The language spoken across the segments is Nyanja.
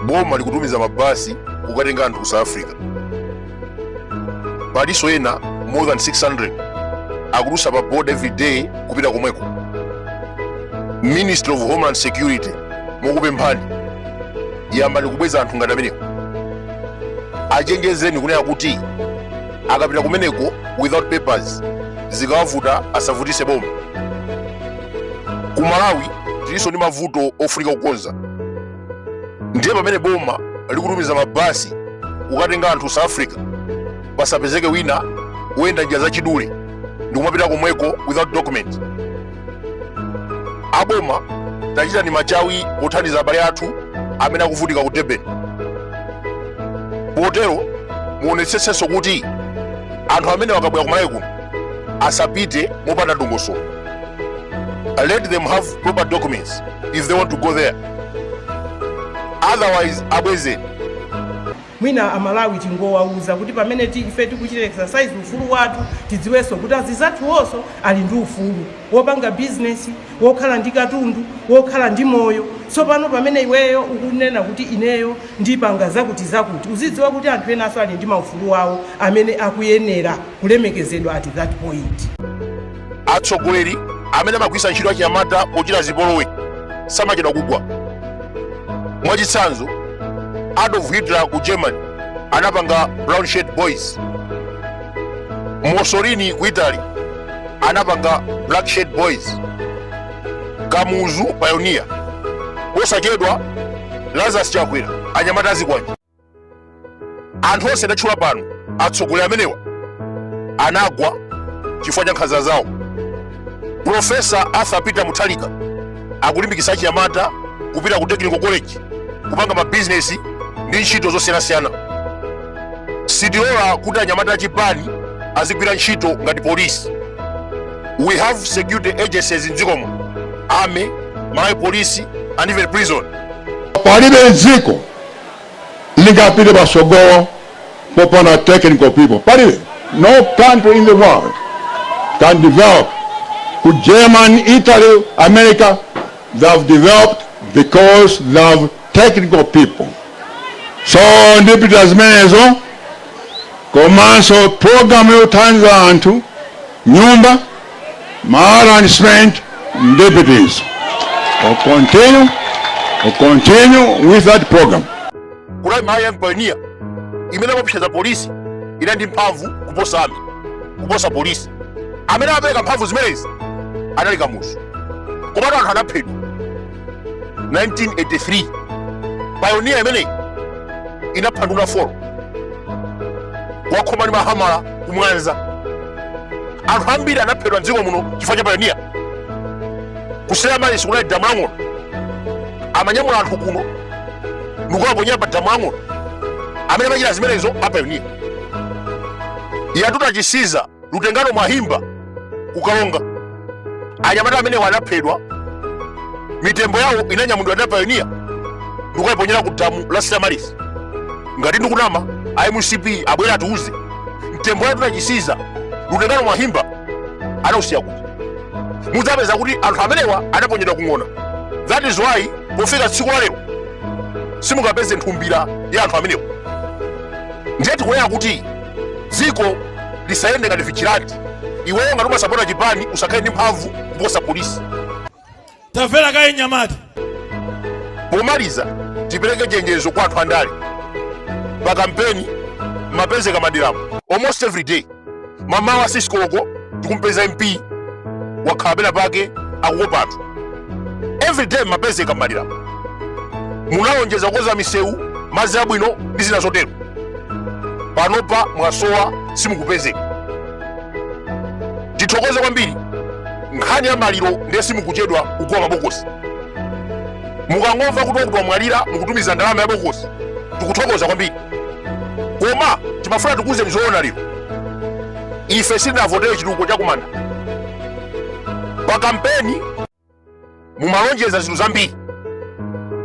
boma likutumiza mabasi kukatenga anthu ku south africa palinso ena more than 600 akudutsa pa border every day kupita komweko ministry of homeland security mokupemphani yambani kubweza anthu ngati amenewo achenjezeni kunena kuti akapita kumeneko without papers zikawavuta asavutise boma ku malawi tilinso ndi mavuto ofunika kukonza ndiye pamene boma likutumiza mabasi kukatenga anthu south africa pasapezeke wina woyenda njira zachidule ndi kumapita komweko without document aboma tachitani machawi pothandiza abale athu amene akuvutika ku durban potero muonetsetsenso kuti anthu amene akabwera kumalawi kuno asapite mopanda dongosolo let them have proper documents if they want to go there otherwise abwezeni mwina amalawi tingowauza kuti pamene ti- ife tikuchita exercise ufulu wathu tidziwenso kuti anzathuwonso ali ndi ufulu wopanga bizinesi wokhala ndi katundu wokhala ndi moyo tsopano pamene iweyo ukunena kuti ineyo ndipanga zakuti zakuti uzidziwa kuti anthu enanso ali ndi maufulu wawo amene akuyenera kulemekezedwa at that point. Atsogoleri amene amagwiritsa ntchito achinyamata pochita zipolowe samachedwa kugwa. Mwachitsanzo, Adolf Hitler ku Germany anapanga Brown Shirt Boys. Mussolini ku Italy anapanga Black Shirt Boys. Kamuzu Pioneer. Posachedwa Lazarus Chakwera anyamata azikwanje. anthu onse ndatchula pano atsogoleri amenewa anagwa chifukwa cha nkhanza zawo profesa arthur peter muthalika akulimbikitsa achinyamata kupita ku technical college kupanga mabizinesi ndi ntchito zosiyanasiyana sitilola kuti anyamata achipani azigwira ntchito ngati polisi we have security agencies mdzikomu army malawi polisi and even prison palibe dziko lingapite patsogolo popanda technical people palibe no country in the world can develop ku germany italy america they have developed because they have technical people so ndipita zimenezo komanso programu yothandiza anthu nyumba Mahala and spent deputies. We'll continue, we'll continue with that program. kunali Malawi payoniya imene imaposera polisi inali ndi mphamvu kuposa ami kuposa polisi amene apereka mphamvu zimenezo anali kamuzu komatu anthu anaphedwa 1983 payoniya imeneyi inapha nduna folo kuwakhoma ndi mahamala ku mwanza anthu ambiri anaphedwa mdziko muno chifukwa cha payoniya ku stella maris kunali damu la ng'ona amanyamula anthu kuno ndikuwaponya pa damu la ng'ona amene amachita zimenezo apayoniya yatuta chisiza Lutengano Mwahimba ku Karonga anyamata amenewa anaphedwa mitembo yawo inanyamulidwa ndi apayoniya ndikukayiponyera ku damu la stella maris ngati ndikunama a mcp abwere atiuze mtembo yatuta chisiza lutengano mwahimba anausiya kuti mudzapeza kuti anthu amenewa anaponyedwa ku ng'ona that is why pofika tsiku la lero simungapeze nthumbira ya anthu amenewa ndiye tikunena kuti dziko lisayende ngati vigilante iweyo ngati umasapota chipani usakhale ndi mphamvu kuposa polisi tamvera kaye nyamata pomaliza tipereke chenjezo kwa anthu andale pa kampeni mumapezeka mmaderamu almost every day mamawa 6 koloko tikumpeza mp wakhala pena pake akukopa anthu every day mumapezeka mmaderamu munalonjeza kukonza misewu madzi abwino ndi zina zotero panopa mwasowa simukupezeka tithokoze kwambiri nkhani ya maliro ndiye simukuchedwa kugula mabokosi mukangomva kuti wakuti wamwalira mukutumiza ndalama ya bokosi tikuthokoza kwambiri koma timafuna tikuuzeni zoona lero ife sitinavotere chitukuko chakumanda pa kampeni mumalonjeza zinthu zambiri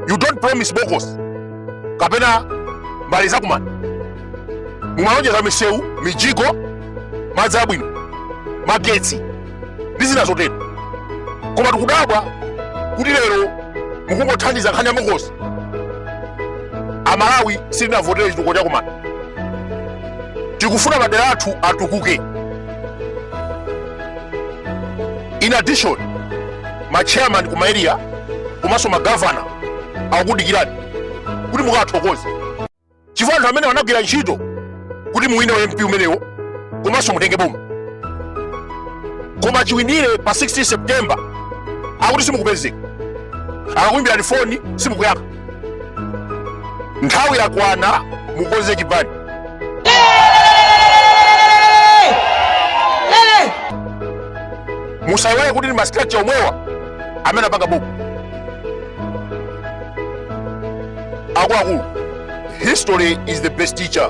you don't promise bokosi kapena mbali zakumanda mumalonjeza misewu mijigo madzi abwino magetsi ndi zina zotero koma tikudabwa kuti lero mukungothandiza nkhani ya bokosi amalawi sitinavotere chitukuko chakumanda tikufuna madera athu atukuke in addition ma chairman ku ma area komanso ma governor akukudikirani kuti mukawathokoze chifukwa anthu amenewa anagwira ntchito kuti muwine u mp umenewo komanso mutenge boma koma chiwinire pa 16 september akuti simukupezeka akakuimbirani foni simukuyankha nthawi yakwana mukonze chipani musayiwale kuti ndi mastructure omwewa amene apanga boma akuluakulu history is the best teacher